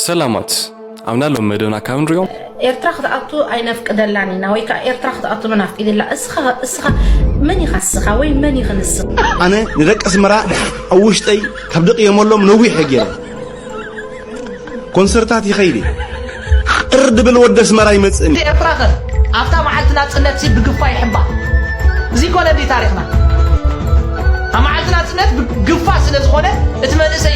ሰላማት ኣብና ሎም መደብና ካብ ንሪኦም ኤርትራ ክትኣቱ ኣይነፍቅደላን ኢና ወይ ከዓ ኤርትራ ክትኣቱ መን ኣፍቂድላ እስኻ እስኻ መን ኢኻ እስኻ ወይ መን ኢኺ ንስኺ ኣነ ንደቂ ኣስመራ ኣብ ውሽጠይ ካብ ደቕየመሎም ነዊሕ ገይረ ኮንሰርታት ይኸይድ ቅር ድብል ወደ ኣስመራ ይመፅእኒ ኤርትራ ከ ኣብታ መዓልቲ ናፅነት ሲ ብግፋ ይሕባ እዚ ኮነ እንዲ ታሪኽና ኣብ መዓልቲ ናፅነት ግፋ ስለ ዝኾነ እቲ መንእሰይ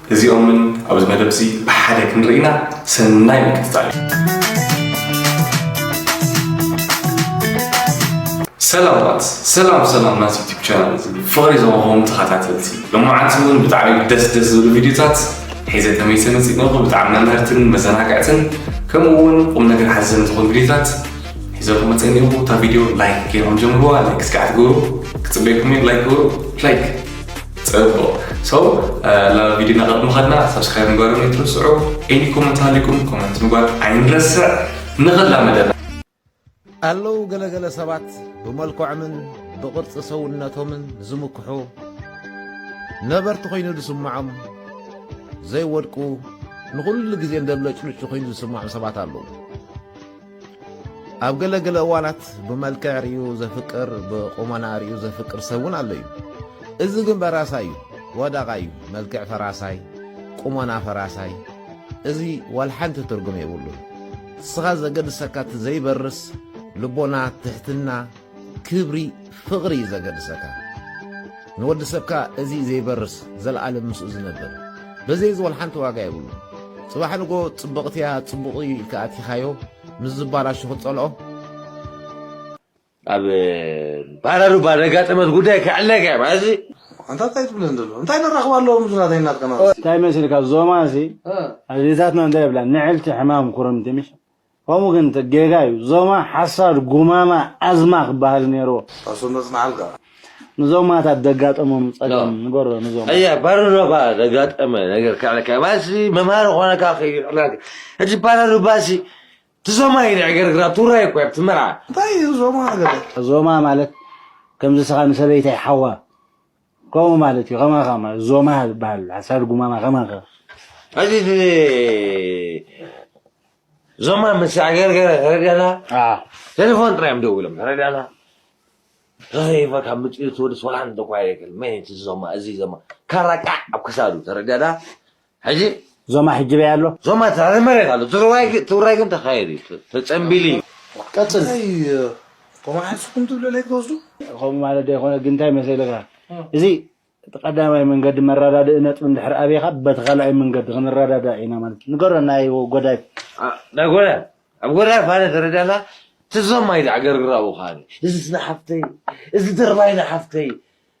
እዚኦምን ኣብዚ መደብ እዚ ብሓደ ክንርኢና ሰናይ ምክትታል ሰላማት ሰላም ሰላም ናት ዩቲብ ቻናል እዚ ፍቕሪ ዝወሃቦም ተኸታተልቲ ልማዓት እውን ብጣዕሚ ደስ ደስ ዝብሉ ቪድዮታት ሒዘ ተመይሰ መፂእነኹ ብጣዕሚ መምህርትን መዘናግዕትን ከምኡ እውን ቁም ነገር ሓዘን ዝኾኑ ቪድዮታት ሒዘኹ መፀኒኹ እታ ቪድዮ ላይክ ገይሮም ጀምርዋ ላይክ እስከ ኣትገብሩ ክፅበይኩም እዩ ላይክ ግበሩ ላይክ ጽቡቕ ሰው ናብ ቪድዮና ቅድሚ ኸድና ሰብስክራይብ ምግባርም ይትርስዑ ኤኒ ኮመንት ሃሊኩም ኮመንት ምግባር ኣይንረስዕ ንኸላ መደብ ኣለዉ ገለገለ ሰባት ብመልክዖምን ብቕርፂ ሰውነቶምን ዝምክሑ ነበርቲ ኮይኑ ዝስምዖም ዘይወድቁ ንኹሉ ግዜ እንደብለጭልጩ ኮይኑ ዝስምዖም ሰባት ኣለዉ ኣብ ገለ ገለ እዋናት ብመልክዕ ርዩ ዘፍቅር ብቁመና ርዩ ዘፍቅር ሰብ እውን ኣሎ እዩ እዚ ግን በራሳ እዩ ወደቓ እዩ መልክዕ ፈራሳይ ቁመና ፈራሳይ እዚ ዋል ሓንቲ ትርጉም የብሉን እስኻ ዘገድሰካ እቲ ዘይበርስ ልቦና ትሕትና ክብሪ ፍቕሪ እዩ ዘገድሰካ ንወዲ ሰብካ እዚ ዘይበርስ ዘለኣለም ምስኡ ዝነብር በዘይ ዝወል ሓንቲ ዋጋ የብሉ ጽባሕ ንጎ ጽብቕቲ እያ ጽቡቕ እዩ ኢልካ ኣቲኻዮ ምስ ዝባላሹ ክትጸልኦ ኣብ ባራሩባ ዘጋጠመት ጉዳይ ክዕለካ እያ ማለት እዚ ኣንታ እንታይ ትብለን ዘሎ እንታይ ነራኽብ ኣለዎ ምስ ናተይ ናትካ እንታይ መስልካ ዞማ እዚ ኣዴታትና እንታይ ይብላ ንዕልቲ ሕማም ኩርምቲ ምሽ ከምኡ ግን እቲ ጌጋ እዩ ዞማ ሓሳድ ጉማማ ኣዝማ ክባሃል ኔርዎ። ጣሶ መጽናዕልካ ንዞማታት ዘጋጠሞም ጸገም ንገሮ ንዞማ። ኣያ ባረሩባ ዘጋጠመ ነገር ከዕለካ ባሲ መምሃሪ ኮነካ ከይዕላል ሕጂ ባረሩባሲ ትዞማ ኢለ ዕገርግራ ቱራይ እኮ ኣብቲ መርዓ። እንታይ እዩ ዞማ ገለ። ዞማ ማለት ከምዚ ስኻ ንሰበይተይ ሓዋ። ከምኡ ማለት እዩ ከማኻ ማለት ዞማ ዝበሃል ሓሳድ ጉማማ ከማኻ ሕጂ እቲ ዞማ ምስ ኣገርገረ ተረዲኣና ኣ ቴሌፎን ጥራይ እዮም ደዊሎም ተረዲኣና ተዘይፈ ካብ ምፅኡ ትወድስ ዋላ እንተኳ የክል መን እቲ ዞማ እዚ ዞማ ካራ ቃዕ ኣብ ክሳዱ ተረዲኣና ሕጂ ዞማ ሕጅበይ ኣሎ። ዞማ ትሕቲ መሬት ኣሎ እቲ ውራይ ግን ተካይዱ እዩ ተጸንቢሉ እዩ። ቀጽል። እንታይ ኮማ ሓንስኩም ትብሉ ለይ ትወስዱ። ከምኡ ማለት ዶ ኣይኮነ ግን እንታይ መሰልካ እዚ እቲ ቀዳማይ መንገዲ መራዳድኢ ነጥቢ እንድሕር ኣብካ በቲ ካልኣይ መንገዲ ክንራዳዳእ ኢና ማለት እዩ ንገሮ ናይ ጎዳይፍ ናይ ጎዳይፍ ኣብ ጎዳይፍ ኣነ ተረዳላ እቲ ዞማይ ዘዕገርግራ ኣብኡ ከኣ እዚ ንሓፍተይ እዚ ድርባይ ንሓፍተይ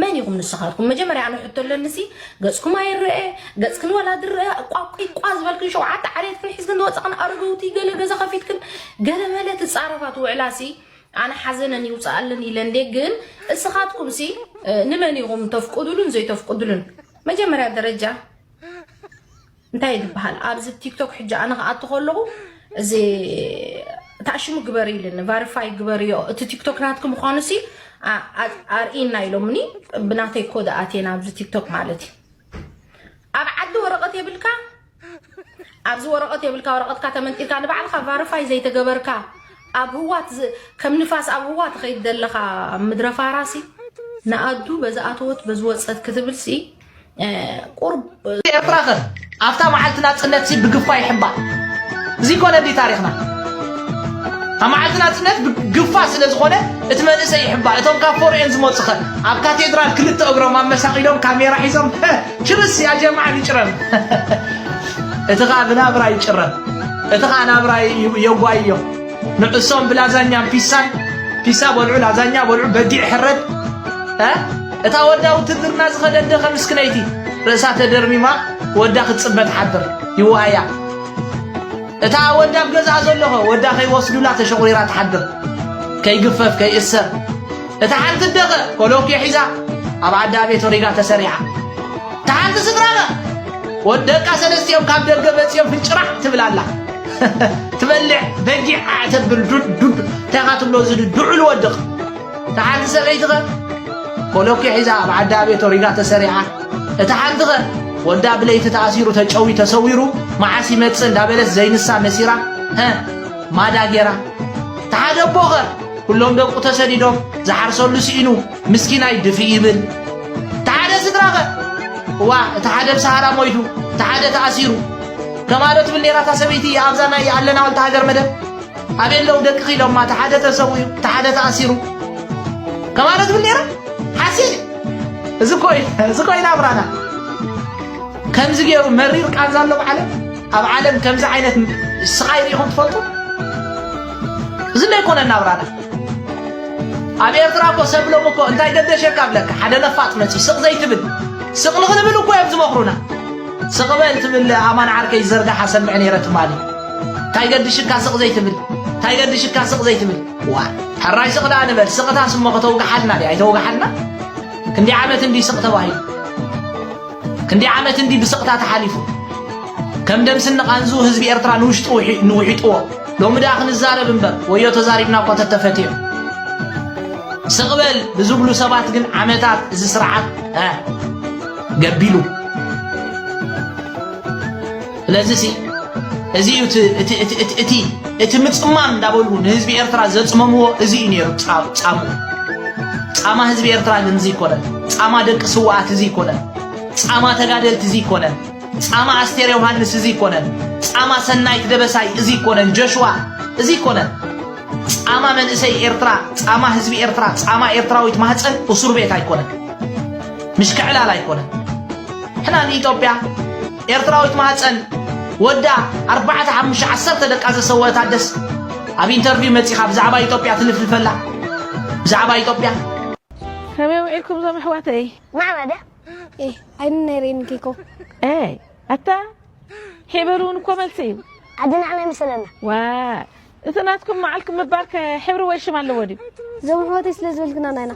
መን ኢኹም ንስኻትኩም መጀመርያ ኣነ ሕቶ ኣለኒ ሲ ገጽኩም ኣይረአ ገጽክን ወላ ዝረአ ቋቂቋ ዝበልክን ሸውዓተ ዓሌትክን ሒዝክን ዝወጻኽን ኣረገውቲ ገለ ገዛ ከፊትክን ገለ መለ ትጻረፋ ትውዕላ ሲ ኣነ ሓዘነን ይውፅኣለን ኢለ እንዴ ግን እስኻትኩም ሲ ንመን ኢኹም ተፍቅዱሉን ዘይተፍቅዱሉን መጀመርያ ደረጃ እንታይ ዝበሃል ኣብዚ ቲክቶክ ሕጂ ኣነ ክኣቱ ከለኹ እዚ ታሽሙ ግበሪ ኢልኒ ቫሪፋይ ግበርዮ እቲ ቲክቶክ ናትኪ ምዃኑ ሲ ኣርእና ኢሎምኒ ብናተይ ኮ ኣቴና ኣብዚ ቲክቶክ ማለት እዩ ኣብ ዓዲ ወረቐት የብልካ ኣብዚ ወረቐት የብልካ ወረቐትካ ተመንጢልካ ንባዕልካ ቫሪፋይ ዘይተገበርካ ኣብ ህዋት ከም ንፋስ ኣብ ህዋ ትኸይድ ዘለኻ ምድረ ፋራሲ ንኣዱ በዚ ኣተወት በዚ ወፀት ክትብልሲ ቁርብ ኤርትራ ከ ኣብታ መዓልቲ ናጽነት ሲ ብግፋ ይሕባ እዚ ኮነ እንዲ ታሪኽና ኣብ መዓልቲ ናጽነት ብግፋ ስለ ዝኾነ እቲ መንእሰይ ይሕባ እቶም ካብ ፎርኤን ዝመጹ ኸ ኣብ ካቴድራል ክልተ እግሮም ኣመሳቂሎም ካሜራ ሒዞም ችርስ ያ ጀማዓ ንጭረም እቲ ኸኣ ብናብራ ይጭረም እቲ ኸኣ ናብራ የጓይዮ ንዕሶም ብላዛኛን ፒሳን ፒሳ በልዑ ላዛኛ በልዑ በጊዕ ሕረድ እታ ወዳ ውትድርና ዝኸደት ደኸ ምስክነይቲ ርእሳ ተደርሚማ ወዳ ክትጽበ ትሓድር ይዋኣያ እታ ወዳ ኣብ ገዛኣ ዘለኸ ወዳ ከይወስዱላ ተሸቑሪራ ትሓድር ከይግፈፍ ከይእሰር እታ ሓንቲ ደኸ ኮሎኬ ሒዛ ኣብ ዓዳ ቤት ሪጋ ተሰሪዓ እታ ሓንቲ ስድራኸ ወደቃ ሰለስቲኦም ካብ ደገ መጺኦም ፍጭራሕ ትብላላ ትበልዕ በጊዕ ኣዕተብል ዱድ እንታይ ትብሎ ዝድዑል ወድቕ እታ ሓንቲ ሰበይቲ ኸ ኮሎኪ ሒዛ ኣብ ዓዳ ቤት ወሪዳ ተሰሪዓ፣ እታ ሓንቲ ኸ ወዳ ብለይቲ ተኣሲሩ ተጨዊ ተሰዊሩ መዓስ ይመጽእ እንዳበለት ዘይንሳ መሲራ ሀ ማዳ ጌራ፣ እታ ሓደ እቦ ኸ ኩሎም ደቁ ተሰዲዶም ዝሓርሰሉ ስኢኑ ምስኪናይ ድፊ ይብል፣ እታ ሓደ ስድራ ኸ እዋ እቲ ሓደ ብሰሃራ ሞይቱ እቲ ሓደ ተኣሲሩ ከማዶ ትብል ኔራ እታ ሰበይቲ ኣብዛ ናይ ኣለና ወልተ ሃገር መደብ ኣበይ ኣለዉ ደቅኺ ኢሎማ እቲ ሓደ ተሰዊኡ እቲ ሓደ ተኣሲሩ ከማለት ትብል ነይራ ሓሲእ እዚ ኮይና ኣብራና ከምዚ ገይሩ መሪር ቃንዛ ኣሎ ኣብ ዓለም ኣብ ዓለም ከምዚ ዓይነት ስቓይ ሪኢኹም ትፈልጡ እዚ እንዶ ኣይኮነና ኣብራና ኣብ ኤርትራ እኮ ሰብሎም እኮ እንታይ ገደሸካ ብለካ ሓደ ነፋጥ መፂ ስቕ ዘይትብል ስቕ ንኽንብል እኮ እዮም ዝመኽሩና ስቕ በል ትብል ኣማን ዓርከይ ዝዘርጋሓ ሰምዕ ነይረ ትማሊ ታይ ገድሽካ ስቅ ዘይትብል ታይ ገድሽካ ስቅ ዘይትብል ዋ ሕራይ ስቅ ደኣ ንበል ስቅታ ስሞ ከተውግሓልና ድያ ኣይተውግሓልና ክንዲ ዓመት እንዲ ስቅ ተባሂሉ ክንዲ ዓመት እንዲ ብስቅታ ተሓሊፉ ከም ደምስን ንቓንዙ ህዝቢ ኤርትራ ንውሽጡ ንውሒጥዎ ሎሚ ደኣ ክንዛረብ እምበር ወዮ ተዛሪብና እኮ ተተፈትዮ ስቕበል ብዝብሉ ሰባት ግን ዓመታት እዚ ስርዓት ገቢሉ ስለዚ ሲ እዚ እዩ እቲ- እቲ- እቲ- እቲ- እቲ- እቲ ምፅማም እንዳበሉ ንህዝቢ ኤርትራ ዘፅመምዎ እዚ እዩ ነይሩ ፃ- ፃሙ ፃማ ህዝቢ ኤርትራ ግን እዚ ይኮነን ፃማ ደቂ ስዋኣት እዚ ይኮነን ፃማ ተጋደልቲ እዚ ይኮነን ፃማ ኣስቴር ዮሃንስ እዚ ይኮነን ፃማ ሰናይት ደበሳይ እዚ ይኮነን ጆሽዋ እዚ ይኮነን ፃማ መንእሰይ ኤርትራ ፃማ ህዝቢ ኤርትራ ፃማ ኤርትራዊት ማህፀን እሱር ቤት ኣይኮነን ምሽክዕላል ኣይኮነን ሕና ንኢትዮጵያ ኤርትራዊት ማህጸን ወዳ ኣርባዕተ ሓሙሽተ ዓሰርተ ደቃ ዘሰወ ታደስ ኣብ ኢንተርቪው መጺኻ ብዛዕባ ኢትዮጵያ ትልፍልፈላ ብዛዕባ ኢትዮጵያ ከመይ ውዒልኩም ዞም ኣሕዋተይ ማዕበደ ዓይኒ ናይ ሬኒ ኬኮ ኣይ ኣታ ሕብሪ እውን እኮ መልሲ እዩ ኣድናዕና ይመስለና ዋ እቲ ናትኩም መዓልኩም ምባር ሕብሪ ወይ ሽም ኣለዎ ድዩ ዞም ኣሕዋተይ ስለ ዝበልክና ናይና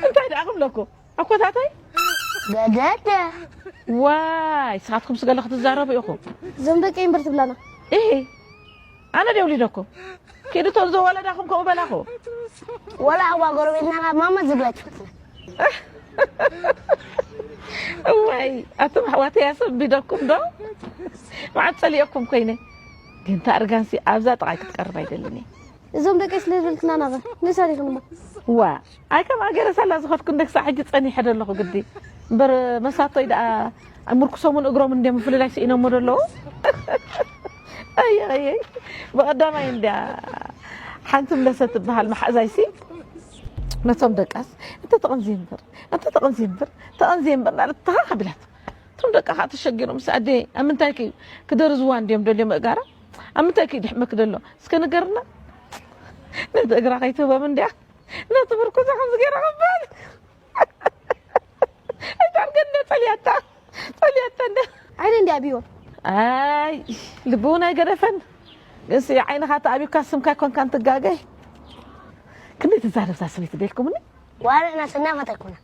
እንታይ ደኣ ክብለኩም ኣኮታተይ ገደደ ዋይ ንስኻትኩም ስገለ ክትዛረቡ ኢኹም እዞም ደቂ እምበር ትብላና እ ኣነ ደ ውሊደኩም ኪዱ እቶም ዘወለዳኹም ከምኡ በላኹ ወላ ኣዋ ጎረቤትና ካብ ማማ ዝብለት እዋይ ኣቶም ኣሕዋተ ያሰቢደኩም ዶ መዓት ፀሊኦኩም ኮይነ ግን ታርጋንሲ ኣብዛ ጥቓይ ክትቀርብ ኣይደልን እየ እዞም ደቀይ ስለ ዝበልክና ናበ ንሰሪክንሞ ዋእ ኣይ ከም ኣገረ ሳላ ዝኸድኩ እንደ ክሳዕ ሕጂ ጸኒሐ ዶ ኣለኹ ግዲ እምበር መሳቶይ ደኣ ምርኩሶምን እግሮም እንደ ምፍልላይ ስኢኖሞ ዶ ኣለዉ ኣየይ ብቐዳማይ እንድያ ሓንቲ ምለሰ ትበሃል መሓእዛይሲ ነቶም ደቃስ እንተ ተቐንዝየ እምበር እንተ ተቐንዝየ እምበር ተቐንዝየ እምበር ናለት ተኻኻቢላት እቶም ደቃ ከዓ ተሸጊሮም ምስ ኣደ ኣብ ምንታይ ክዩ ክደርዝዋ እንድዮም ደልዮ ምእጋራ ኣብ ምንታይ ክዩ ድሕመኪ ደሎ እስከ ንገርና ነቲ እግራ ከይትህቦም እንድያ ነቲ ምርኩሳ ከምዚ ገይራ ክበል እታን ገንደ ጸልያታ ጸልያታ እንደ ዓይነ እንዲ ኣብዮ ኣይ ልቢ እውን ኣይገደፈን ግንሲ ዓይንኻ ተኣቢካ ስምካ ኮንካን ትጋገይ ክንደይ ትዛረብታ ሰበይቲ ደልኩምኒ ዋላ ናሰና ፈተኩና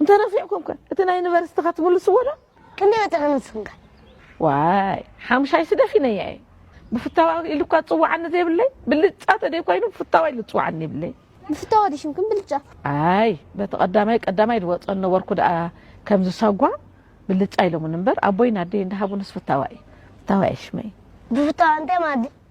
እንተነፊዕኩም ከ እቲ ናይ ዩኒቨርሲቲኻ ትምልስዎ ዶ? ክንደይ ወጺዕኩም ንስኹም ከ? ዋይ ሓሙሻይ ስደፊነያ እየ ብፍታዋ ኢሉ እኳ ዝፅዋዓኒ ዘይብለይ ብልጫ ተደይ ኮይኑ ብፍታዋ ኢሉ ዝፅዋዓኒ ይብለይ ብፍታዋ ዲሽም ክም ብልጫ ኣይ በቲ ቀዳማይ ቀዳማይ ዝወፀን ነበርኩ ደኣ ከምዚ ሳጓ ብልጫ ኢሎምን እምበር ኣቦይን ኣደይ እንዳሃቡንስ ፍታዋ እዩ ፍታዋ እየ ሽመይ ብፍታዋ እንታይ ማለት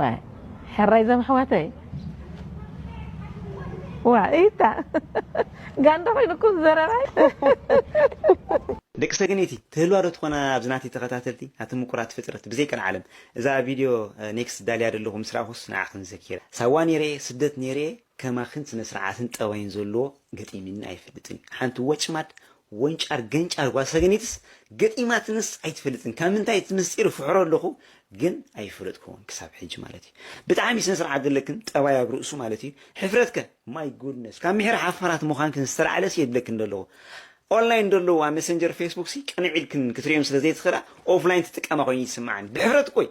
ዋይ ሕራይ ዞም ኣሕዋተይ ዋይ ኢታ ጋንዳ ኮይኑ እኮ ዘረባይ ደቂ ሰገነይቲ ትህልዋ ዶ ትኾና ኣብዚ ናተይ ተኸታተልቲ ኣቲ ምቁራት ፍጥረት ብዘይ ቀልዓለም እዛ ቪድዮ ኔክስት ዳልያ ደለኹ ምስ ራኣኹስ ንዓኽን ዘኪረ ሳዋ ኔረ እየ ስደት ኔረ እየ ከማኽን ስነ ስርዓትን ጠባይን ዘለዎ ገጢሚኒ ኣይፈልጥን እዩ ሓንቲ ወጭማድ ወንጫር ገንጫር ጓል ሰገነይትስ ገጢማትንስ ኣይትፈልጥን ካብ ምንታይ እቲ ምስጢር ፍሕሮ ኣለኹ ግን ኣይፈለጥኩዎን ክሳብ ሕጂ ማለት እዩ ብጣዕሚ ስነ ስርዓት ዘለክን ጠባይ ኣብ ርእሱ ማለት እዩ ሕፍረት ከ ማይ ጉድነስ ካብ ምሕር ሓፋራት ምዃንክን ዝተላዕለስ የድለክን ደለኹ ኦንላይን ደለዉ ኣብ ሜሰንጀር ፌስቡክ ሲ ቅንዕ ኢልክን ክትርእዮም ስለ ዘይትኽእላ ኦፍላይን ትጥቀማ ኮይኑ ይስምዓኒ ብሕፍረት እኮ እዩ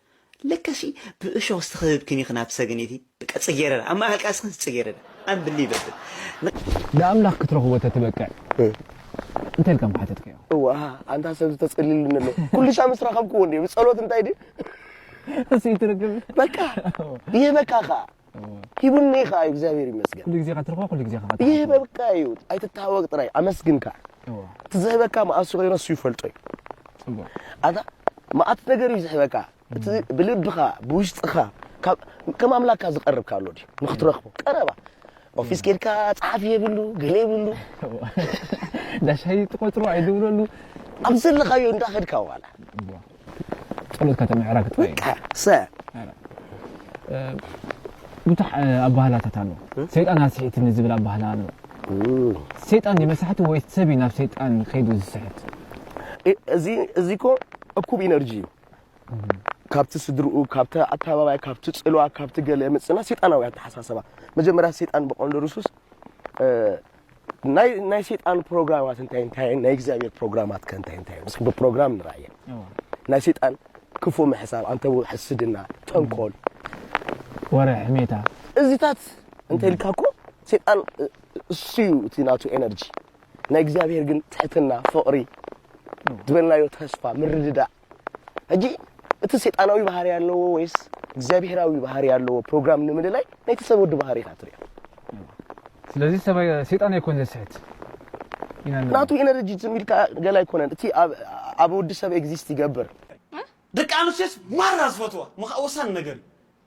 ለከሲ ብእሾኽ ዝተኸብብክን ኢኽን ኣብቲ ሰገን ኢቲ በቃ ጽጌረዳ ኣብ ማእከል ቃልስኽን ጽጌረዳ ኣንብሊቨብል። ንኣምላኽ ክትረኽቦ ተትበቅዕ እንታይ ኢልካ ምሓተትካዮ? እዋእ ኣንታ ሰብ ዝተጸልየልኒ ኣሎ ኩሉሻ ምስ ረኸብክዎ እንድየ ብጸሎት እንታይ ድዩ እሱ ይትርግም በቃ ይህበካ ከኣ ሂቡኒ ከኣ እዩ እግዚኣብሔር ይመስገን ኩሉ ግዜ እኻ ትረኽቦ ኩሉ ግዜ እኻ ይህበብካ እዩ ኣይትተሃወቅ ጥራይ ኣመስግን ከኣ እቲ ዝህበካ መኣሱ ኮይኑ እሱ ይፈልጦ እዩ ኣታ መኣት ነገር እዩ ዝህበካ እቲ ብልብኻ ብውሽጥኻ ከም ኣምላካ ዝቀርብካ ኣሎ ድዩ ንክትረኽቦ ቀረባ ኦፊስ ኬድካ ጸሓፊ የብሉ ገለ የብሉ ዳሻይ ትቆጽሮ ኣይድብለሉ ኣብ ዘለኻዮ እንዳኸድካ ዋላ ጸሎትካ ተምዕራግ ጥራይ እዩ። ቀሰ ብዙሕ ኣባህላታት ኣሎ ሰይጣን ኣስሒትኒ ዝብል ኣባህላ ኣሎ ሰይጣን ድዩ መሳሕቲ ወይ ሰብ እዩ ናብ ሰይጣን ከይዱ ዝስሕት እ- እዚ እዚ እኮ እኩብ ኢነርጂ እዩ ካብቲ ስድርኡ ካብቲ ኣተባባያ ካብቲ ፅልዋ ካብቲ ገለ የምፅና ሴጣናዊ ኣተሓሳሰባ መጀመርያ ሴጣን ብቀንዱ ርሱስ እ፣ ናይ ሰይጣን ፕሮግራማት እንታይ እንታይ ናይ እግዚኣብሔር ፕሮግራማት ከ እንታይ እንታይ ምስ ብፕሮግራም ንርኣየ ናይ ሰይጣን ክፉ ምሕሳብ ኣንተ ሕስድና ጠንቆል ወረ ሕሜታ እዚታት እንተ ኢልካ እኮ ሰይጣን እሱ እዩ እቲ ናቱ ኤነርጂ ናይ እግዚኣብሔር ግን ትሕትና ፍቕሪ ዝበልናዮ ተስፋ ምርድዳእ ሕጂ እቲ ሴጣናዊ ባህሪ ኣለዎ ወይስ እግዚኣብሄራዊ ባህሪ ኣለዎ ፕሮግራም ንምልላይ ናይቲ ሰብ ወዲ ባህሪ ኢኻ ትሪኦ ስለዚ ሰማይ ሴጣን ኣይኮን ዘስሕት ኢና ንብል። ናቱ ኤነርጂ ዝም ኢልካ ገለ ኣይኮነን እቲ ኣብ- ኣብ ወዲ ሰብ ኤግዚስት ይገብር ደቂ ኣንስትዮስ ማራ ዝፈትዋ ምኻእ ወሳኒ ነገር እዩ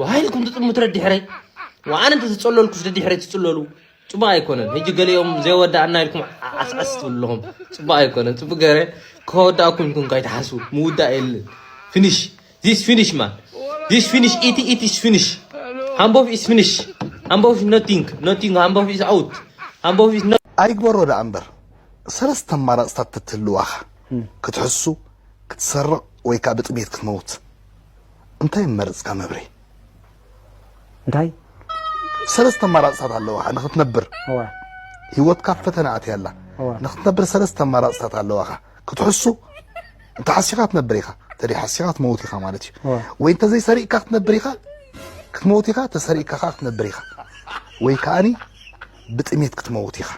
ወሃይል ኩንቱ ጽልሙት ረዲሕረይ ወኣነ እንተ ዝጸለልኩስ ረዲሕረይ ትጽለሉ ጽቡቅ ኣይኮነን። ህጂ ገሊኦም ዘይወዳእና ኢልኩም ዓስዓስ ትብሉ ኣለኹም። ጽቡቅ ኣይኮነን። ጽቡቅ ገረ ከወዳእኩም ኢልኩም ካይትሓስቡ ምውዳእ የለን። ፊኒሽ ዚስ ፊኒሽ ማን ዚስ ፊኒሽ ኢቲ ኢቲ ኢስ ፊኒሽ ሃምቦፍ ኢስ ፊኒሽ ሃምቦፍ ኢስ ኖቲንግ ኖቲንግ ሃምቦፍ ኢስ ኣውት ሃምቦፍ ኢስ ኣይግበሮ ደኣ እምበር ሰለስተ ኣማራፅታት ተትህልዋኻ ክትሕሱ ክትሰርቕ ወይ ከዓ ብጥሜት ክትመውት እንታይ ምመረጽካ መብሬ? እንታይ ሰለስተ ኣማራጽታት ኣለዋኻ ንኽትነብር እወ ህይወትካ ኣብ ፈተነ ኣትያ ኣላ እወ ንኽትነብር ሰለስተ ኣማራጽታት ኣለዋኻ ክትሕሱ እንተ ሓሲኻ ትነብር ኢኻ እንተ ሓሲኻ ትመውት ኢኻ ማለት እዩ እወ ወይ እንተ ዘይሰሪቕካ ክትነብር ኢኻ ክትመውት ኢኻ ተሰሪቕካ ከዓ ክትነብር ኢኻ ወይ ከዓኒ ብጥሜት ክትመውት ኢኻ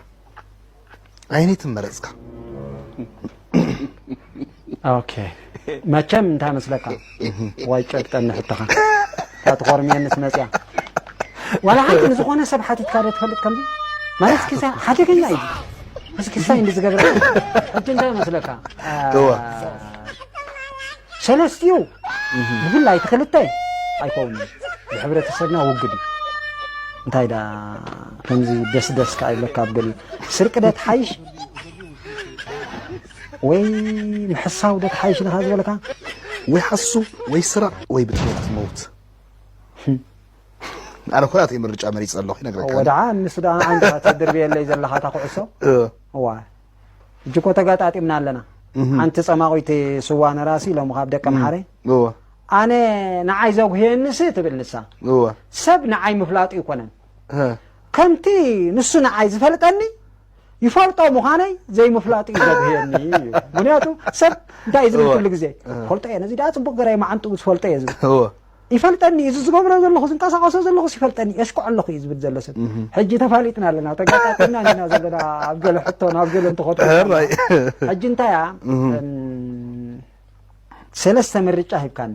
ኣይነይቲ መረፅካ ኦኬ መቸም እንታይ መስለካ ዋይ ጨብጠኒ ሕቶኻ እታ ትኾርምየንስ መፅያ ዋላ ሓንቲ ንዝኾነ ሰብ ሓቲትካ ዶ ትፈልጥ ከምዚ ማለት እስኪ ሓደገኛ እዩ እዚ ክሳይ እንዲ ዝገብረ ሕጂ እንታይ መስለካ ሰለስትኡ ብፍላይ እቲ ክልተ ኣይከውንን ብሕብረተሰብና ውግድ እዩ እንታይ ዳ ከምዚ ደስ ደስ ከኣ ይብለካ ኣብ ገሊኡ ስርቂ ዶ ትሓይሽ ወይ ምሕሳው ዶ ትሓይሽ ኢልካ ዝበለካ ወይ ሓሱ ወይ ስረቕ ወይ ብጥሜት ትመውት ኣነ እኮ ናተይ ምርጫ መሪፀ ኣለኹ ይነግረካ ወድዓ ንሱ ደኣ ኣንታ ተድርብየለይ ዘለኻ እታ ኩዕሶ እዋ ሕጂ እኮ ተጋጣጢምና ኣለና ሓንቲ ፀማቑይቲ ስዋ ነራሲ ሎሚ ካብ ደቂ ምሓረ ኣነ ንዓይ ዘጉህየንሲ ትብል ንሳ ሰብ ንዓይ ምፍላጡ ይኮነን ከምቲ ንሱ ንዓይ ዝፈልጠኒ ይፈልጦ ምዃነይ ዘይምፍላጡ እዩ ዘብህየኒ እዩ ምክንያቱ ሰብ እንታይ ዝብል ኩሉ ግዜ ፈልጦ እየ ነዚ ደኣ ፅቡቅ ገራይ መዓንጥኡ ዝፈልጦ እየ ዝብል ይፈልጠኒ እዚ ዝገብሮ ዘለኹ ዝንቀሳቀሶ ዘለኹስ ይፈልጠኒ የሽኩዕ ኣለኹ እዩ ዝብል ዘሎ ሰብ ሕጂ ተፋሊጥና ኣለና ተጋጣጢና ኢና ዘለና ኣብ ገለ ሕቶ ናብ ገለ እንትኸዱ ሕጂ እንታይ እያ ሰለስተ ምርጫ ሂብካኒ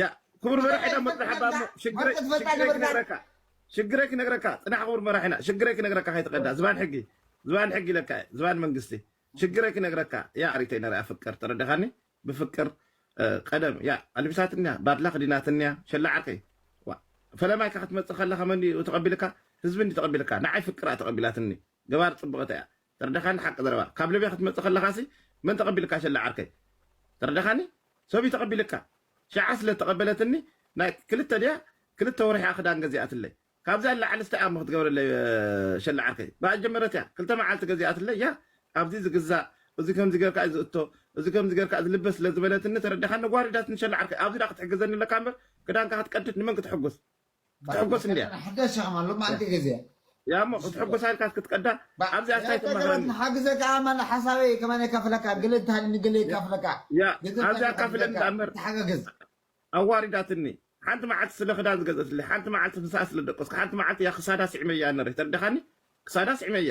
ያእ ክቡር መራሒ ዳሞ ጽናሕ እባ እሞ ሽግረይ ሽግረይ ክነግረካ ሽግረይ ክነግረካ ጽናሕ ክቡር መራሒና ሽግረይ ክነግረካ ከይትቀዳ ዝባን ሕጊ ዝባን ሕጊ ለካ ዝባን መንግስቲ ሽግረይ ክነግረካ ያ ኣሪተይ ነሪኣ ፍቅር ተረዳኻኒ ብፍቅር ቀደም ያ ኣልቢሳትኒያ ባድላ ክዲናትኒያ ሸላዓርከይ ፈለማይካ ክትመፅእ ከለካ መን ተቐቢልካ ህዝቢ እንዲ ተቐቢልካ ንዓይ ፍቅራ ተቐቢላትኒ ገባር ጽብቅቲ እያ ተርዳካኒ ሓቂ ዘረባ ካብ ልብያ ክትመጽእ ከለካሲ መን ተቀቢልካ ሸላ ዓርከይ ተርዳካኒ ሰብዩ ተቀቢልካ ሽዓ ስለ ተቀበለትኒ ናይ ክልተ ድያ ክልተ ወርሒ እያ ክዳን ገዚኣትለይ ካብዚኣ ንላዕልስ ታይ ኣሞ ክትገብረለይ ሸላ ዓርከይ ብኣ ዝጀመረት እያ ክልተ መዓልቲ ገዚኣትለይ እያ ኣብዚ ዝግዛእ እዚ ከምዚ ገርካ እዩ ዝእቶ እዚ ከምዚ ገርካ ዝልበስ ስለ ዝበለትኒ ተረዳካኒ ጓሪዳትኒ ሸላ ዓርከይ ኣብዚ ድኣ ክትሕግዘኒ ኣለካ እምበር ክዳንካ ክትቀድድ ንመን ክትሕጉስ ክትሕጎስ እንድያ ሕደስ ሸክማ ሎማዕንቲ ግዜ። ያሞ ክትሕጎሳ ኢልካስ ክትቀዳ ኣብዚኣ ታይ ትማሃረኒ። ንሓግዘካ ኣማን ሓሳበይ ከማን የካፍለካ ገለ እንተሃልዩ ንገለ የካፍለካ ያ ገንዘብ ኣብዚኣ እንተሃልዩካ ኣካፍለኒ ንገርካ ዳኣምበር ንተሓጋገዝ። ኣዋሪዳትኒ ሓንቲ መዓልቲ ስለ ክዳን ዝገዘትለይ ሓንቲ መዓልቲ ምሳኣ ስለ ደቀስኩ ሓንቲ መዓልቲ እያ ክሳዳ ስዒመያ ነረ ተርዳካኒ ክሳዳ ስዒመያ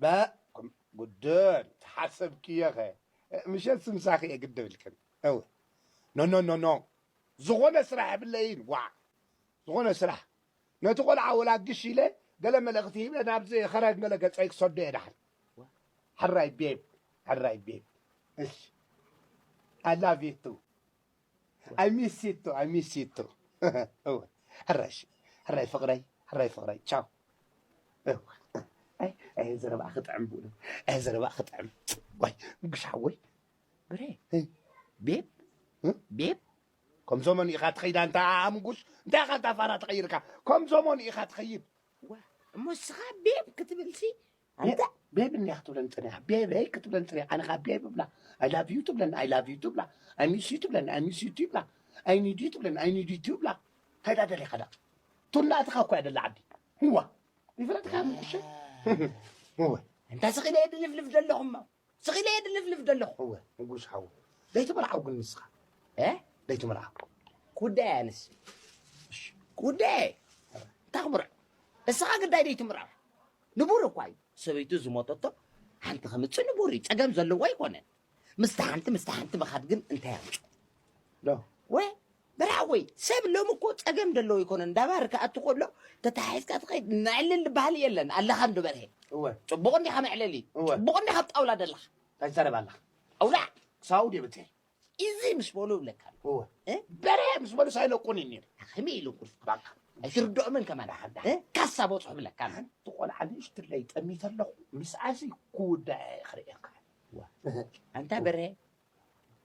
ባእ ጉድል ተሓሰብክዮኸ ምሸትስ ምሳኺ እየ ግድብ ኢልክን እው ኖኖኖኖ ዝኾነ ስራሕ የብለይን ዋዕ ዝኾነ ስራሕ ነቲ ቆልዓ ወላ ግሽ ኢለ ገለ መልእኽቲ ሂበ ናብዚ ኸረን ገለ ገፀይ ክሰዶ እየ ዳሓን ሕራይ ቤብ ሕራይ ቤብ እሺ ኣላቪቱ ኣይ ሚስ ሲቶ ኣይ ሚስ ሲቶ እወ ሕራይ እሺ ሕራይ ፍቅረይ ሕራይ ፍቅረይ ቻው እወ ኣይ ኣይ ዘረባኣ ክጥዕም ብእውነት ኣይ ዘረባኣ ክጥዕም ዋይ ጉሽ ሓወይ ብሬ ቤብ ቤብ ከም ዘመኑ ኢኻ ትኸይዳ እንታ ኣምጉሽ እንታይ ኢኻ እንታ ፋራ ተቐይርካ ከም ዘመኑ ኢኻ ትኸይድ እሞ እስኻ ቤብ ክትብልሲ ኣነ ዳኣ ቤቢ እንድያ ክትብለኒ ጸኒሓ ቤበይ ክትብለኒ ጸኒሓ ኣነ ከኣ ቤቢ እብላ ኣይ ላቭ ዩ ትብለኒ ኣይ ላቭ ዩ ትብላ ኣይ ሚስ ዩ ትብለኒ ኣይ ሚስ ዩ ትብላ ኣይ ኒድ ዩ ትብለኒ ኣይ ኒድ ዩ ትብላ እንታይ ዳኣ ደሊኻ ዳኣ ቱናትኻ እኮ እያ ደላ ዓዲ ህዋ ይፍረድካ ምቁሸ እወ እንታይ ስኺ ነየድልፍልፍ ዘለኹማ ስቂለ እየ ድልፍልፍ ደለኩ እወ ንጉስ ሓው ለይቲ መርዓው ግን ንስካ እ ለይቲ መርዓው ክውዳይ እያ ንስ እሺ ክውዳይ እየ እንታይ ክምርዕ እስኻ ግዳይ ለይቲ ምርዓው ንቡር እኳ እዩ ሰበይቱ ዝሞተቶ ሓንቲ ከምፅእ ንቡር እዩ ፀገም ዘለዎ ኣይኮነን ምስታ ሓንቲ ምስታ ሓንቲ ምኻድ ግን እንታይ ኣምፅኦ ዶ ወይ ብራወይ ሰብ ሎሚ እኮ ጸገም ደለዎ ኣይኮነን ዳባር ክኣቱ ከሎ ተታሓሒዝካ ትኸይድ መዕልል ባህሊ የለን ኣለኻ እንዶ በርሄ እወ ጽቡቕ እንዲኻ መዕለሊ እወ ጽቡቕ እንዲኻ ኣብ ጣውላ ደለኻ እንታይ ትዛረብ ኣለኻ ኣውላዕ ክሳቡ ደብተይ ኢዚ ምስ በሉ ይብለካ ኣሎ እወ እ? በርሄ ምስ በሉ ሳይለቁኒ ነይሩ ከመይ ኢሉ ኩርፍ ባካ ኣይትርድኦምን ከማን ዳሓዳ እ? ካሳ በጽሑ ይብለካ ኣሎ ሓንቲ ቆልዓ ንእሽትለይ ጠሚተ ኣለኹ ምስኣሲ ክውዳእ እየ ክርእየካ እወ ኣንታ በርሄ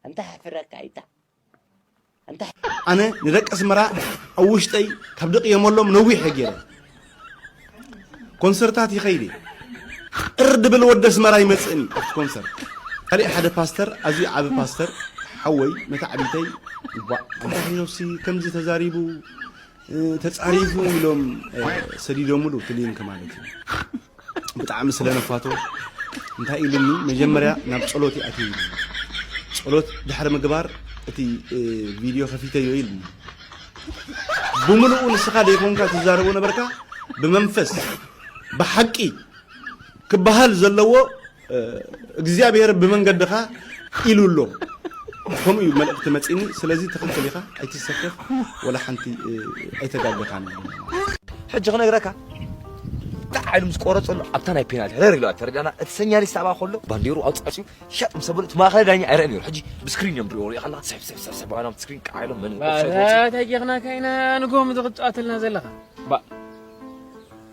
ኣንታ ሕፍረካ ኢታ ኣንታ ኣነ ንደቂ ኣስመራ ኣብ ውሽጠይ ካብ ድቕየመሎም ነዊሕ እየ ገይረ ኮንሰርታት ይኸይድ እየ ቅር ድብል ወዲ ኣስመራ ይመጽእን እዩ ኣብቲ ኮንሰርት ካሊእ ሓደ ፓስተር ኣዝዩ ዓቢ ፓስተር ሓወይ መታዕቢተይ እንኳዕ ኣንታ ሄኖሲ ከምዚ ተዛሪቡ ተጻሪጉ ኢሎም ሰዲዶምሉ እቲ ሊንክ ማለት እዩ ብጣዕሚ ስለ ነፋቶ እንታይ ኢሉኒ መጀመርያ ናብ ጸሎት ይኣትዩ ኢሉ ጸሎት ድሕሪ ምግባር እቲ ቪድዮ ከፊተዮ ኢሉኒ ብምልኡ ንስኻ ዘይኮንካ ትዛረቦ ነበርካ ብመንፈስ ብሓቂ ክበሃል ዘለዎ እግዚኣብሔር ብመንገድኻ ኢሉ ኣሎ ከምኡ እዩ መልእኽቲ መፂኒ ስለዚ ትኽክል ኢኻ ኣይትሰከፍ ወላ ሓንቲ ኣይተጋገኻን ሕጂ ክነግረካ ጣዕ ኢሉ ምስ ቆረፀሉ ኣብታ ናይ ፔናልቲ ሕረር ኢሉ ተረዳና እቲ ሰኛሊስት ኣብኣ ከሎ ባንዴሩ ኣውፃፅኡ ሸጥ ምስ ኣበሉ እቲ ማእኸላይ ዳኛ ኣይረአ ነይሩ ሕጂ ብስክሪን እዮም ድሪኦ ሪኦ ከለካ ስሕብ ስሕብ ስሕብ ባይሎም ስክሪን ቃዕ ኢሎም መን ታጊኽናካ ኢና ንጎም ዝቕፃወተልና ዘለኻ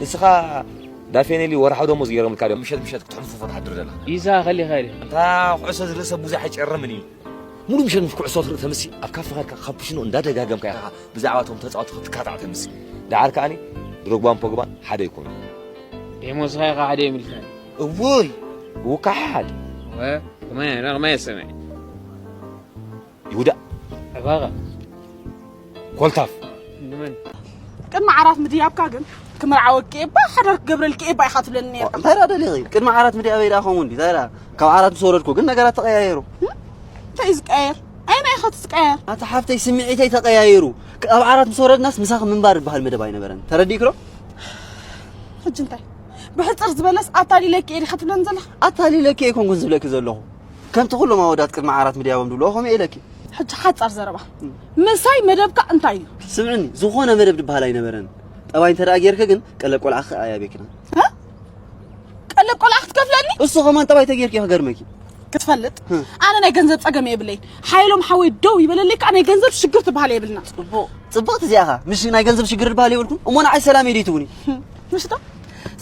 ንስኻ ዳፌኔሊ ወርሓዊ ደሞዝ ገይሮምልካ ድዮም ምሸት ምሸት ክትሕንፍፎ ትሓድር ዘለኻ? ይሳ ኸሊ ኸሊ እታ ኩዕሶ ዝርእሰ ብዙሕ ኣይጨርምን እዩ። ሙሉእ ምሸት ምስ ኩዕሶ ትርኢ ተምሲ ኣብ ካፈ ኸድካ ካፑሽኖ እንዳደጋገምካ ኢኻ ብዛዕባ እቶም ተጻወቲ ክትካታዕ ተምሲ። ደሓር ከኣኒ ድሮግባን ፖግባን ሓደ ኣይኮኑን። ደሞዝኻ ኢኻ ሓደ የምልከኒ። እውይ ብውካሓሓድ። ወ ከማይ ኣነ ከማይ ሰማይ። ይሁዳ ዕባቐ ኮልታፍ ንመን ቅድሚ ዓራት ምድያብካ ግን ክምርዓወኪ እየ እባ ሓዳር ክገብረልኪ እየ እባ ኢኻ ትብለኒ ነይርካ እንታይ ደኣ ደሊኺ ቅድሚ ዓራት ምድያበይ ደኣ ከምኡ እንድዩ እንታይ ደኣ ካብ ዓራት ምስ ወረድኩ ግን ነገራት ተቐያየሩ እንታይ እዩ ዝቀየር ኣይና ኢኻ ትቀየር ኣታ ሓፍተይ ስምዒተይ ተቐያይሩ ኣብ ዓራት ምስ ወረድናስ ምሳኺ ምንባር ዝበሃል መደብ ኣይነበረን ተረዲእኪ ዶ ሕጂ እንታይ ብሕፅር ዝበለስ ኣታሊለኪ እየ ዲኻ ትብለኒ ዘለኻ ኣታሊለኪ እየ ኮንኩን ዝብለኪ ዘለኹ ከምቲ ኩሎም ኣወዳት ቅድሚ ዓራት ምድያቦም ድብልዎ ከምኡ እየ ኢለኪ። ሕጂ ሓጻር ዘረባ ምሳይ መደብካ እንታይ እዩ? ስምዕኒ ዝኾነ መደብ ድበሃል ኣይነበረን። ጠባይ እንተ ደኣ ጌርኪ ግን ቀለብ ቆልዓ ክኣ ኣያቤክና። ቀለብ ቆልዓ ክትከፍለኒ? እሱ ከማን ጠባይ ተጌርኪ ክገርመኪ ክትፈልጥ ኣነ ናይ ገንዘብ ጸገም የብለይ ሓይሎም ሓወይ ደው ይበለለይ ከዓ ናይ ገንዘብ ሽግር ትበሃል የብልና ጽቡቅ ጽብቅቲ እዚኣኻ ምሽ ናይ ገንዘብ ሽግር ትበሃል የብልኩም እሞ ንዓይ ሰላም የድይ ትቡኒ ምሽቶ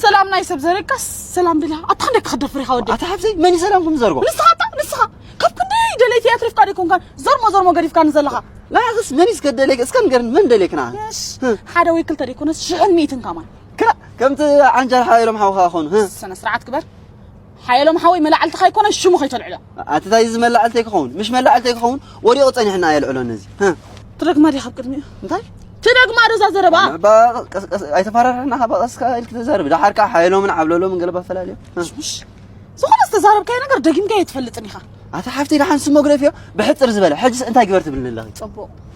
ሰላም ናይ ሰብ ዘረጋስ ሰላም ድላ ኣታ ክንደይ ክኽደፍር ኢኻ ወዲ ኣታ ሓፍተይ መን እዩ ሰላም ከም ዘርጎ ንስኻ ኣታ ንስኻ ካብ ክንደይ ደለይቲ እያ ትሪፍካ ደይኮንካን ዘርሞ ዘርሞ ገዲፍካኒ ዘለኻ ንዓኽስ መን እዩ እስከ ደለይክ እስከ ንገርኒ መን ደለይክ ንዓ ሓደ ወይ ክልተ ደይኮነስ ሽሕን ሚእትን ከማን ከምቲ ዓንጃል ሓባኢሎም ሓውኻ ኾኑ ስነ ስርዓት ግበር ሓየሎም ሓወይ መላዕልትኻ ኣይኮነን ሽሙ ከይተልዕሎ። ኣቲ ታይ እዚ መላዕልተይ ክኸውን ምሽ መላዕልተይ ክኸውን ወዲቑ ጸኒሕና ኣየልዕሎን እዚ ትደግማ ዲኻ ኣብ ቅድሚኡ እንታይ ትደግማ ዶ እዛ ዘረባ ኣይተፈራርሕና ካብ ቀስ ኢልክ ተዛርቢ ደሓር ከዓ ሓየሎምን ዓብለሎምን ገለባ ፈላለዩ ዝኾነ ዝተዛረብካዮ ነገር ደጊምካ ኣይትፈልጥን ኢኻ ኣታ ሓፍተይ ደሓን ስሞግረፍ እዮ ብሕፅር ዝበለ ሕጅስ እንታይ ግበር ትብልኒ ኣለኺ ፅቡቕ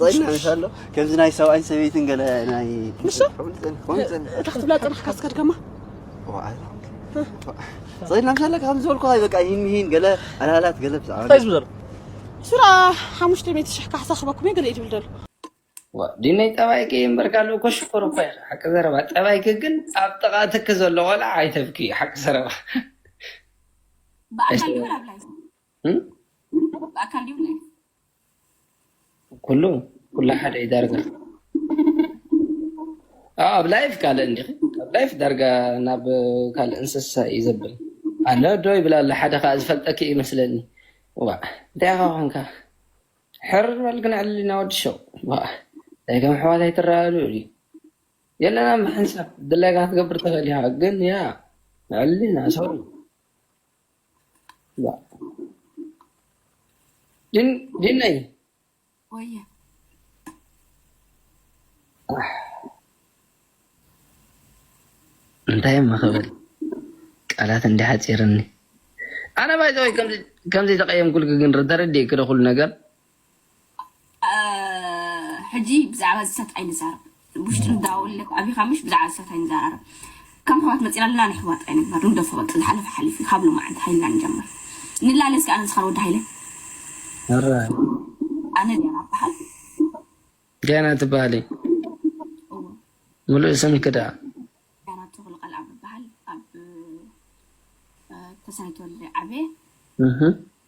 ጾይና ንሳሎ ከምዚ ናይ ሰብኣይን ሰበይትን ገለ ናይ ንሱ እታ ክትብላ ጥራሕካ ስከድ ከማ ጾይና ንሳሎ ከም ዝበልኩ ሃይ በቃ ይህን ይህን ገለ ኣላላት ገለ ብዛዕባ እንታይ ዝብዘሎ ስራ ሓሙሽተ ሚእቲ ሽሕ ካሕሳ ክበኩም እየ ገለ እዩ ትብል ዘሎ ዲነይ ጠባይኪ እምበር ካልእ እኮ ሽኮር እኮ ኢኺ ሓቂ ዘረባ ጠባይኪ ግን ኣብ ጥቓ ትኪ ዘሎ ቆልዓ ኣይተብክዩ ሓቂ ዘረባ ብኣካል ይኹን ኣብ ላይፍ ብኣካል ድዩ ላይፍ ኩሉ ኩሉ ሓደ እዩ ዳርጋ ኣብ ኣብ ላይፍ ካልእ እንዲኺ ኣብ ላይፍ ዳርጋ ናብ ካልእ እንስሳ እዩ ዘብል ኣነ ዶ ይብል ኣሎ ሓደ ከዓ ዝፈልጠኪ እዩ መስለኒ ዋ እንታይ ኢኻ ኮንካ ሕር በል ክንዕል ኢና ወዲ ሸው ዋ እንታይ ከም ኣሕዋት ኣይትረኣሉ እዩ የለና ምሕንሳብ ድላይካ ክትገብር ትኽእል ኢኻ ግን ያ ንዕሊ ኢና ሰው ድነይ ወየ እንታይ እሞ ክብል ቃላት እንዲ ሓፂርኒ ኣነ ባይዘወይ ከምዚ ተቀየምኩልክ ግን ተረዲእክ ዶ ኩሉ ነገር ሕጂ ብዛዕባ ዝሰት ኣይንዛረብ ውሽጢ ንዳውለ ኣቢኻ ምሽ ብዛዕባ ዝሰት ኣይንዛራረብ ከም ኣሕዋት መፂና ኣለና ንኣሕዋት ኣይንግበር ንግደፎ በቃ ዝሓለፈ ሓሊፉ እዩ ካብ ሎማዓንቲ ሃይልና ንጀምር ንላለ እስኪ ኣነ ንስኻ ወዲ ሃይለ ኧረ ኣነ ዲያና በሃል ዲያና ትበሃሊ እዎ ምሉእ ስምኪ ደኣ ዲያና ተኽሉ ቃልኣብ በሃል ኣብ ተሰነይ ተወልደ ዓበየ እህ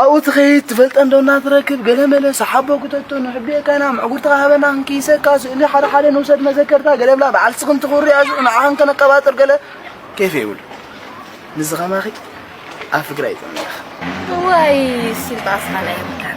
ኣብኡ ትኸይድ ትፈልጠን ዶ እናትረክብ ገለመለ ሰሓቦ ክተቶ ንሕቤካና ምዕጉርትኻ ሃበና ክንክይሰካ ስእሊ ሓደ ሓደ ንውሰድ መዘከርታ ገለብላ በዓል ስኽን ትኹሪ ኣሽዑ ንዓኻን ከነቀባጥር ገለ ኬፍ የብሉ ንዚ ከማኺ ኣብ ፍግራ ይጠመለኽ ዋይ ሲልጣስኻ ናይ ምካን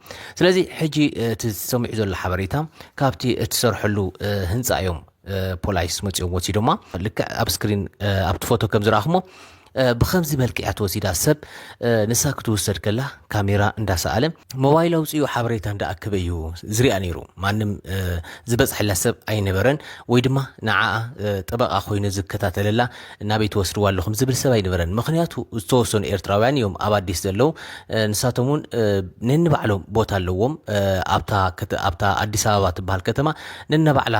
ስለዚ ሕጂ እቲ ዝሰሚዑ ዘሎ ሓበሬታ ካብቲ እትሰርሐሉ ህንፃ እዮም ፖላይስ መፂኦም ወሲዶማ ልክዕ ኣብ ስክሪን ኣብቲ ፎቶ ከም ዝረኣኹሞ ብከምዚ መልክዕ እያ ተወሲዳ ሰብ ንሳ ክትውሰድ ከላ ካሜራ እንዳሰኣለ ሞባይል ኣውፅኡ ሓበሬታ እንዳኣከበ እዩ ዝርኣ ነይሩ ማንም ዝበፅሐላ ሰብ ኣይነበረን ወይ ድማ ንዓኣ ጠበቃ ኮይኑ ዝከታተለላ ናበይ ትወስድዋ ኣለኹም ዝብል ሰብ ኣይነበረን ምኽንያቱ ዝተወሰኑ ኤርትራውያን እዮም ኣብ ኣዲስ ዘለው ንሳቶም እውን ነንባዕሎም ቦታ ኣለዎም ኣብታ ኣዲስ ኣበባ ትበሃል ከተማ ነናባዕላ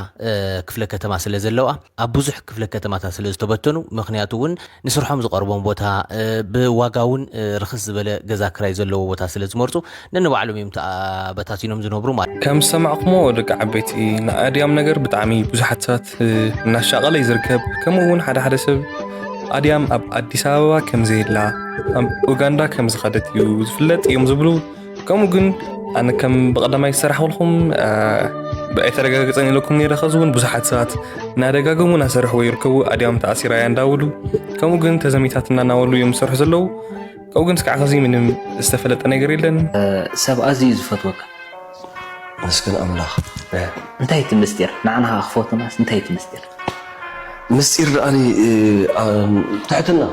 ክፍለ ከተማ ስለ ዘለዋ ኣብ ብዙሕ ክፍለ ከተማታት ስለ ዝተበተኑ ምክንያቱ እውን ንስርሖም ዝቐርቦም ቦታ ብዋጋ እውን ርክስ ዝበለ ገዛ ክራይ ዘለዎ ቦታ ስለ ዝመርፁ ነንባዕሎም እዮም ተበታቲኖም ዝነብሩ ማለት ከም ዝሰማዕኩሞ ደቂ ዓበይቲ ንኣድያም ነገር ብጣዕሚ ብዙሓት ሰባት እናሻቐለይ ዝርከብ ከምኡ እውን ሓደ ሓደ ሰብ ኣድያም ኣብ ኣዲስ ኣበባ ከም ዘየላ ኣብ ኡጋንዳ ከም ዝኸደት እዩ ዝፍለጥ እዮም ዝብሉ ከምኡ ግን ኣነ ከም ብቐዳማይ ዝሰራሕኩልኩም ኣይተረጋገፀን ኢለኩም ነረ ከዚ እውን ብዙሓት ሰባት እናደጋገሙ እናሰርሕዎ ይርከቡ ኣድያም ተኣሲራ እያ እንዳበሉ ከምኡ ግን ተዘሚታት እናናበሉ እዮም ዝሰርሑ ዘለዉ ከምኡ ግን ስካዕ ከዚ ምንም ዝተፈለጠ ነገር የለን ሰብ ኣዝዩ እዩ ዝፈትወካ ኣመስግን ኣምላኽ እንታይ እቲ ምስጢር ንዓና ከኣ ክፈትውናስ እንታይ እቲ ምስጢር ምስጢር ደኣኒ ትሕትና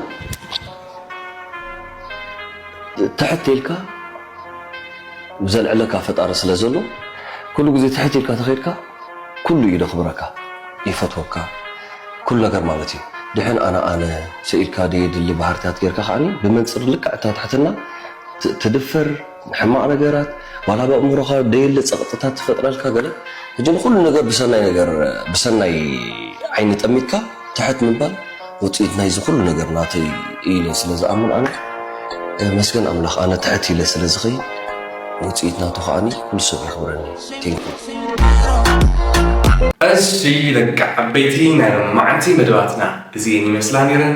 ትሕት ኢልካ ዘልዕለካ ፈጣሪ ስለ ዘሎ ኩሉ ግዜ ትሕት ኢልካ ተኸድካ ኩሉ እዩ ደኽብረካ ይፈትወካ ኩሉ ነገር ማለት እዩ ድሕን ኣነ ኣነ ሰኢልካ ደየድሊ ባህርታት ጌርካ ከዓኒ ብመንፅር ልክዕ እታ ትሕትና ትድፈር ንሕማቅ ነገራት ዋላ ኣብ ኣእምሮኻ ደየለ ጸቅጥታት ትፈጥረልካ ገለ ሕጂ ንኹሉ ነገር ብሰናይ ነገር ብሰናይ ዓይኒ ጠሚትካ ትሕት ምባል ውጽኢት ናይዚ ኩሉ ነገር ናተይ እዩ ኢለ ስለ ዝኣምን ኣነ ተመስገን ኣምላኽ ኣነ ትሕት ኢለ ስለ ዝኸይድ ውጽኢት ናቱ ከኣኒ ኩሉ ሰብ የኽብረኒ thank you። እሺ ደቂ ዓበይቲ ናይ ሎሚ መዓልቲ መደባትና እዚኤን ይመስላ ኔረን።